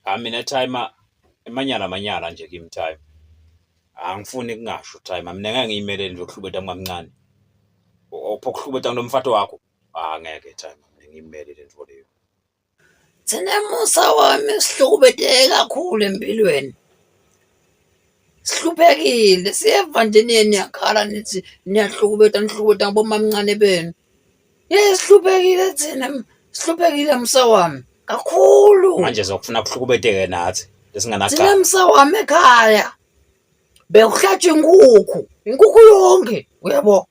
Ah mina time emanyala manyala nje kimi time. Angifuni kungasho time. Mina ngeke ngiyimele nje ukuhlubeta kwamncane. Opho kuhlubeta kunomfato wakho. Ah ngeke time. Mina ngiyimele le nto leyo. Thina musa wami sihlukubeteke kakhulu empilweni. Sihluphekile siyeva nje niye niyakhala nithi niyahlukubeta nihlukubeta ngobomamncane benu. yesihluphekile thina sihluphekile msa wami kakhulu manje zokufuna kuhlukubeteke nathi esinganacala thina msa wami ekhaya bekuhlatshwa inkukhu inkukhu yonke uyabo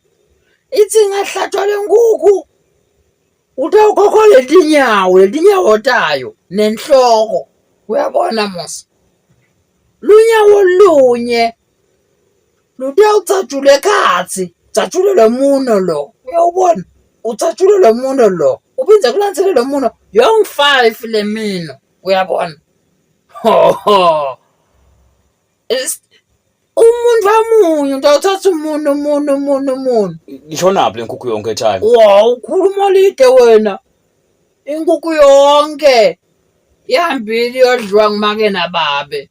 ithi ingahlatshwa le nkukhu utawukhokho letinyawo letinyawo tayo nenhloko uyabona musa lunyawo lunye Ludiya ucatshule khathi ucatshule lo muno lo uyawubona ucatshule lo muno lo uphinde kulandzele lo muno yong five le mino uyabona hoho umuntu wamunye umuntu awuthatha umuntu umuntu umuntu umuntu ngishonaphi le nkukhu yonke time wa ukhuluma lide wena inkukhu yonke ihambile iyodliwa ngumake nababe